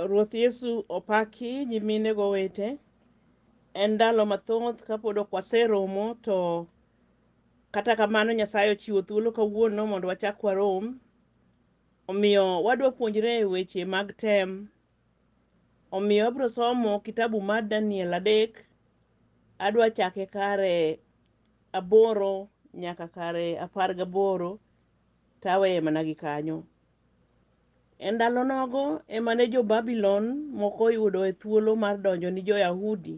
Ruoth Yesu opaki nyimine gowete. En ndalo mathoth kapod ok waseromo to kata kamano Nyasaye ochiwo thuolo kawuono mondo wachak warom. Omiyo wadwa puonjre weche mag tem. Omiyo abiro somo kitabu mar Daniel adek. Adwa chake kare aboro nyaka kare apar gaboro taweye mana gi kanyo. E ndalo nogo ema ne jo-Babylon moko oyudoe thuolo mar donjo ni jo-Yahudi.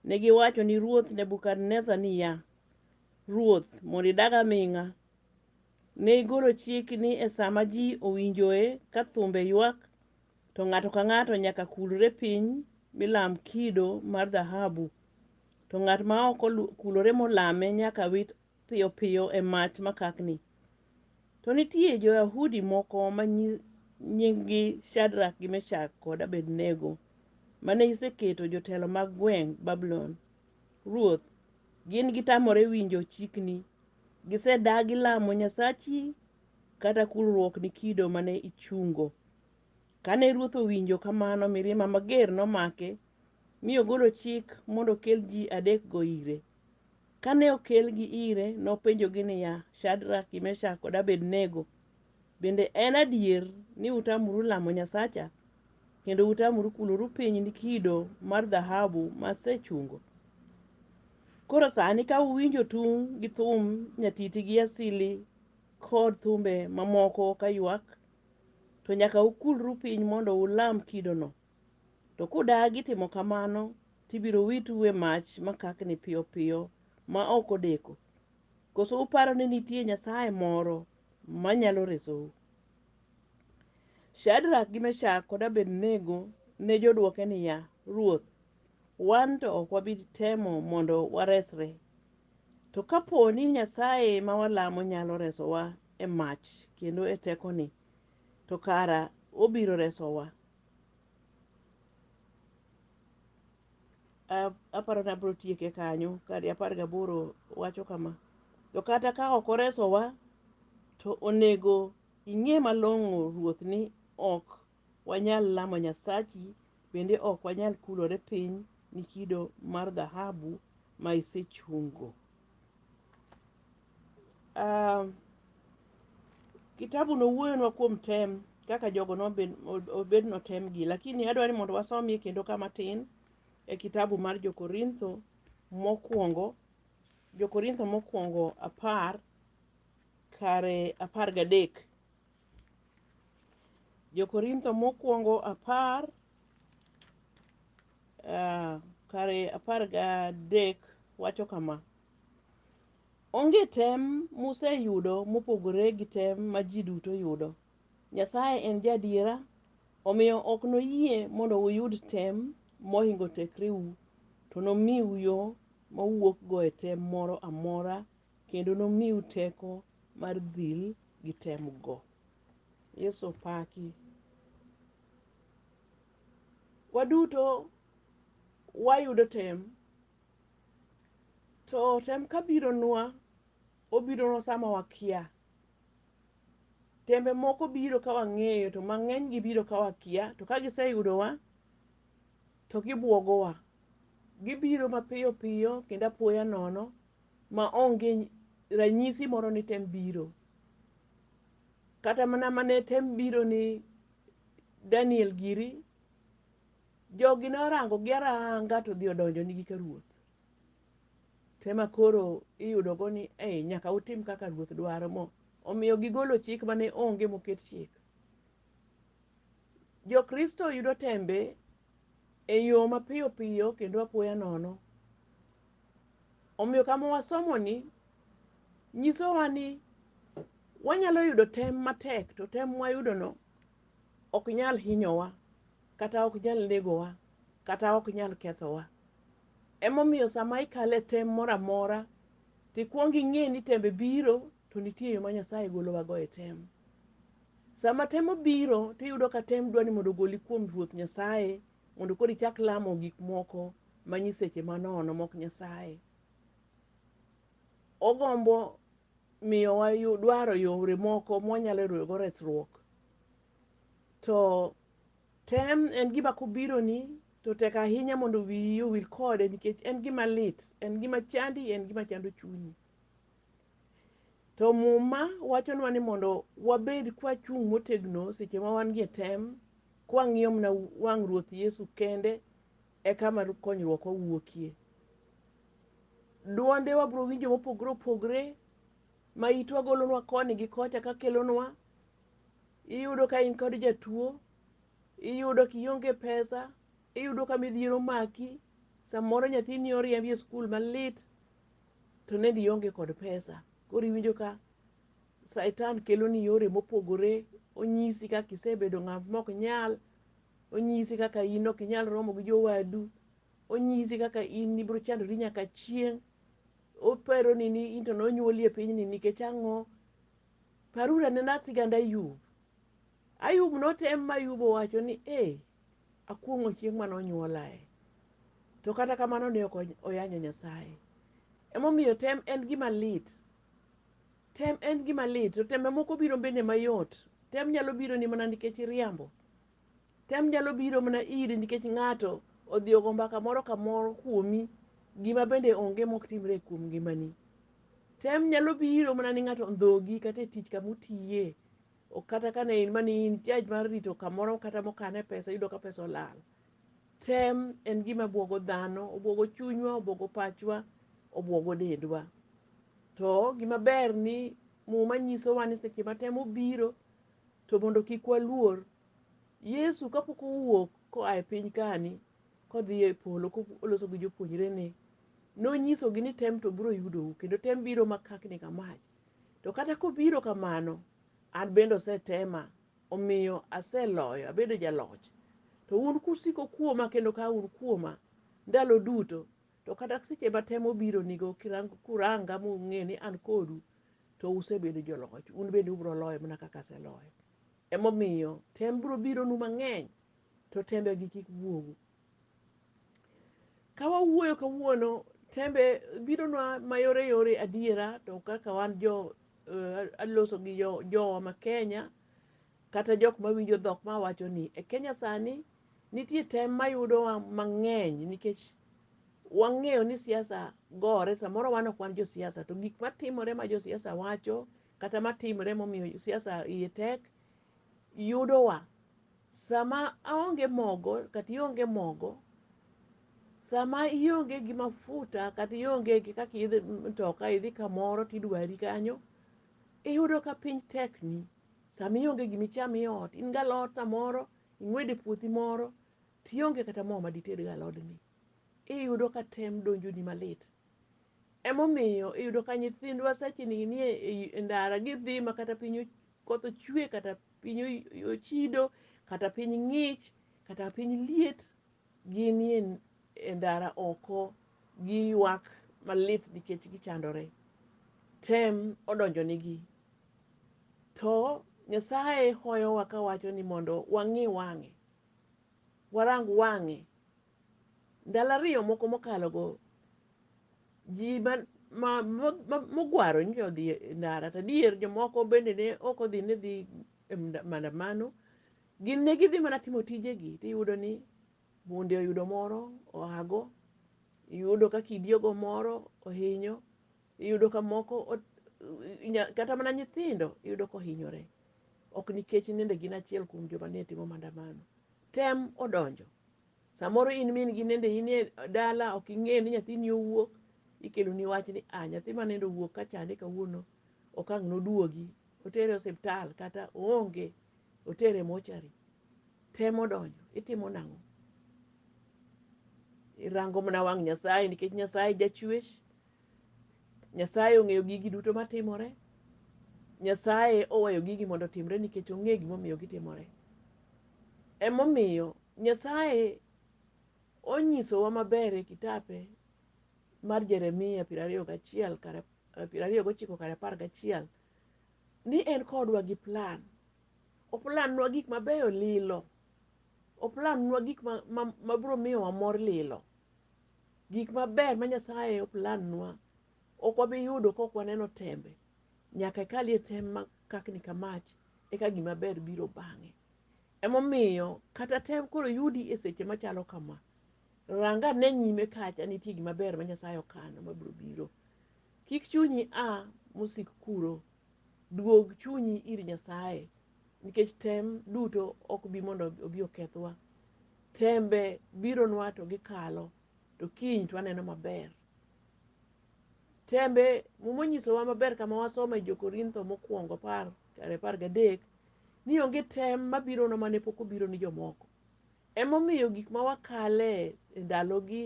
Ne giwacho ni ruoth Nebukadnezar niya, Ruoth, mondo idag aming'a. Ne igolo chik ni e sa ma ji owinjoe ka thumbe ywak, to ng'ato ka ng'ato nyaka kulre piny mi lam kido mar dhahabu, to ng'at ma ok kulore molame nyaka wit piyo piyo e mach makakni. To nitie jo-Yahudi moko ma nyinggi Shadrak gi Meshak kod Abednego mane iseketo jotelo mag gweng' Babulon. Ruoth, gin gitamore winjo chikni. Gisedagi lamo Nyasachi kata kulruokni kido mane ichungo. Kane ruoth owinjo kamano mirima mager nomake mi ogolo chik mondo okel ji adekgo ire. Kane okelgi ire, nopenjogi niya, Shadrak gi Meshak kod Abednego, bende en adier ni utamoru lamo Nyasacha kendo utamoru kuloru piny ni kido mar dhahabu ma asechungo? Koro sani ka uwinjo tung' gi thum nyatiti gi asili kod thumbe mamoko kaywak, to nyaka ukulru piny mondo ulam kidono. To kudagi timo kamano, to ibiro witu e mach makakni piyo piyo ma ok odeko. Koso uparo ni nitie nyasaye moro ma nyalo resou? Shadrak gi Meshak kod Abednego ne jodwoke niya, Ruoth, wan to ok wabi temo mondo waresre. To ka po ni Nyasaye ma walamo nyalo resowa e mach kendo e tekoni, to kara obiro resowa. A- aparo ni abiro tieke kanyo kadi apar gaboro wacho kama to kata ka ok oresowa to onego ing'e malong'o ruoth ni ok wanyal lamo nyasachi bende ok wanyal kulore piny ni kido mar dhahabu ma isechungo Ah, kitabu no wuoyonwa kuom tem kaka jogo nobed ob- obed notem gi lakini adwaro ni mondo wasomie kendo kama tin e kitabu mar jokorintho mokwongo jokorintho mokwongo apar kare apar gadek jokorintho mokwongo apar uh, kare apar gadek wacho kama onge tem museyudo mopogore gi tem ma ji duto yudo nyasaye en jadiera omiyo ok noyie mondo uyud tem mohingo tekreu to nomiu yo mowuokgo e tem moro amora kendo nomiu teko mar dhil gi temgo yesu paki Waduto wayudo tem, to tem kabironwa, obironwa sama wakia. Tembe moko biro ka wang'eyo, to mang'eny gibiro ka wakia, to ka giseyudowa, to gibwogowa. Gibiro mapiyo piyo kendo apoya nono ma onge ranyisi moro ni tem biro. Kata mana mane tem biro ni Daniel giri, jogi ne orangogi aranga to odhi odonjonigi ka ruoth. To ema koro iyudogo ni ei nyaka utim kaka ruoth dwaro mo omiyo gigolo chik mane onge moket chik. Jokristo yudo tembe e yo mapiyo piyo kendo apoya nono. Omiyo kama wasomoni nyisowa ni wanyalo yudo tem matek to tem mwayudono ok nyal hinyowa kata ok nyal negowa kata ok nyal kethowa. Emomiyo sama ikale tem moro amora to ikwongo ing'e ni tembe biro to nitie yo ma Nyasaye golowago e tem. Sama tem obiro tiyudo ka tem dwa ni mondo ogoli kuom Ruoth Nyasaye mondo koro ichak lamo gik moko ma nyiseche manono mok Nyasaye. Ogombo miyowa dwaro yore moko mwanyalo yudogo resruok. To tem en gima kobironi to tek ahinya mondo wiyi owil kode nikech en gima lit, en gima chandi, en gima chando chunyi. To muma wachonwa ni mondo wabed kwachung' motegno seche ma wan gi e tem, kwang'iyo mana wang' Ruoth Yesu kende e kama konyruok owuokie. Dwonde wabiro winjo mopogore opogore ma itwa golonwa koni gi kocha ka kelonwa. Iyudo ka in kod jatuo, iyudo kionge pesa, Iyudo ka midhiero omaki, samoro nyathini oriembi e skul malit to nende ionge kod pesa. Koro iwinjo ka Satan keloni yore mopogore, onyisi kaka isebedo ng'at mok nyal, onyisi kaka in ok inyal romo gi jowadu, onyisi kaka in ibiro chandori nyaka chieng'. Oparoni ni in to nonyuoli e pinyni nikech ang'o? Paruru anena sigand Ayub. Ayub notem ma Ayub owacho ni, ee, Akuong'o chieng' mane onyuolae. To kata kamano ne ok oyanyo Nyasaye. Emomiyo tem en gima lit. Tem en gima lit. To tembe moko biro bende mayot. Tem nyalo biro ni mana nikech iriambo. Tem nyalo biro mana iri nikech ng'ato odhi ogo mbaka moro kamoro kuomi gima bende onge mok timre kuom ngimani. Tem nyalo biro mana ni ng'ato ondhogi kata e tich kama utiye. Ok kata ka ne in mane in judge mar rito kamoro kata mokane pesa iyudo ka pesa olal. Tem en gima buogo dhano, obuogo chunywa, obuogo pachwa, obuogo dendwa. To gima ber ni muma nyisowa ni seche ma tem obiro to mondo kik waluor. Yesu kapok owuok koa e piny kani kodhi e polo koloso gi jopuonjrene, nonyisogi ni tem to biro yudou kendo tem biro makakni ka mach. To kata kobiro kamano, an bende osetema, omiyo aseloyo, abedo jaloch. To un kusiko kuoma kendo ka un kuoma ndalo duto, to kata seche ma temo obironigo kuranga mung'e ni an kodu, to usebedo joloch, un bende ubiro loyo mana kaka aseloyo. Emomiyo tem biro bironu mang'eny, to tembegi kik wuogu, Ka wawuoyo kawuono, tembe bironwa mayore yore adiera to kaka wan jo eh, aloso gi jo- jowa ma Kenya kata jok mawinjo dhok ma wacho ni e Kenya sani nitie tem mayudowa mang'eny nikech wang'eyo ni siasa gore samoro wan ok wan josiasa to gik matimore ma josiasa wacho kata matimore momiyo siasa iye tek yudowa Sama aonge mogo kata ionge mogo, sama ionge gi mafuta kata ionge gi kaka idhi mtoka idhi kamoro tidwari kanyo, iyudo ka piny tekni. Sama ionge gima icham e ot, in gi alot samoro ing'wedo e puothi moro to ionge kata mo ma ditedgo alodni, iyudo ka tem donjoni malit. Emomiyo iyudo ka nyithindwa secheni nie ndara gidhi makata piny koth ochwe kata piny ochido kata piny ng'ich kata piny liet ginie e ndara oko giywak malit nikech gichandore tem odonjonigi to nyasaye hoyowa kawacho ni mondo wang'i wang'e warang wang'e Ndalo ariyo moko mokalogo, ji mogwaro nyocha odhi e ndara, to adier jomoko bende ne ok odhi ni dhi e maandamano, gin ne gidhi mana timo tijegi, tiyudo ni bunde oyudo moro oago, iyudo ka kidi ogo moro ohinyo, iyudo ka moko kata mana nyithindo iyudo kohinyore, ok nikech nende gin achiel kuom joma ne timo maandamano. tem odonjo. Samoro in min gi nende in e dala ok ing'eyo ni nyathini owuok, ikeloni wach ni a nyathi ma nende owuok ka chande kawuono ok ang' noduogi, otere osiptal kata oonge, otere mochari. Tem odonjo, itimo nang'o? Irango mana wang' Nyasaye nikech Nyasaye jachwech. Nyasaye ong'eyo gigi duto matimore. Nyasaye oweyo gigi mondo otimre nikech ong'eyo gimomiyo gitimore. Emomiyo Nyasaye onyisowa maber e kitape mar Jeremia piero ariyo gachiel kar eh, piero ariyo gochiko kar apar gachiel ni en kodwa gi plan. Oplanwa gik mabeyo lilo. Oplanwa gik ma, ma, ma biro miyowa mor lilo. Gik maber ma Nyasaye oplandnwa ok wabi yudo ka ok waneno tembe. Nyaka ikalie tem ma kakni ka mach eka gima ber biro bang'e. Emomiyo kata tem koro yudi e seche machalo kama, ranga ne nyime kacha nitie gima ber ma Nyasaye okano mabiro biro. Kik chunyi a mosik kuro. Duog chunyi ir Nyasaye nikech tem duto ok bi mondo obi okethwa. Tembe bironwa to gikalo, to kiny to waneno maber. Tembe Muma onyisowa maber kama wasomo e Jo-Korintho mokwongo apar kare apar gadek ni onge tem mabirona mane pok obiro ni jomoko. Emomiyo gik ma wakale e ndalogi,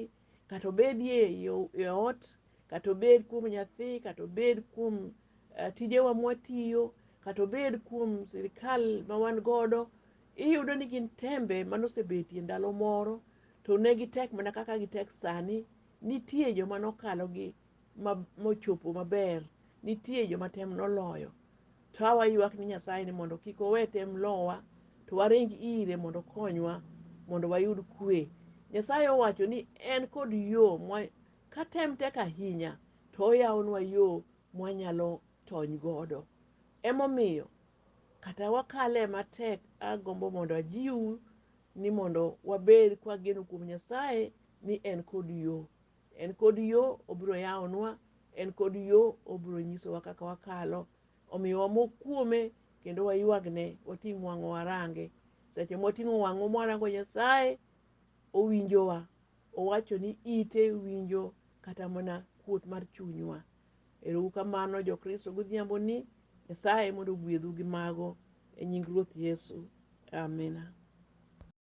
kata obedi e ot, kata obed kuom nyathi, kata obed kuom tijewa mwatiyo, kata obed kuom sirikal ma wan godo, iyudo ni gin tembe mane osebetie ndalo moro to ne gitek mana kaka gitek sani. Nitie joma nokalogi mochopo maber nitie joma tem noloyo to a waywak ni nyasaye ni mondo kik owe tem lowa to waring ire mondo okonywa mondo wayud kwe nyasaye owacho ni en kod yo ka tem tek ahinya to oyawonwa yo mwanyalo tony godo emomiyo kata wakale matek agombo mondo ajiwu ni mondo wabed kwageno kuom nyasaye ni en kod yo En kod yo obiro yawonwa, en kod yo obiro nyisowa kaka wakalo. Omiyo wamok kuome kendo waywagne, wating' wang'o warange. Seche mwating'o wang'o mwarango Nyasaye, owinjowa. Owacho ni ite winjo kata mana kuot mar chunywa. Erou kamano Jokristo godhiambo ni Nyasaye mondo ogwedhu gi mago e nying Ruoth Yesu. Amina.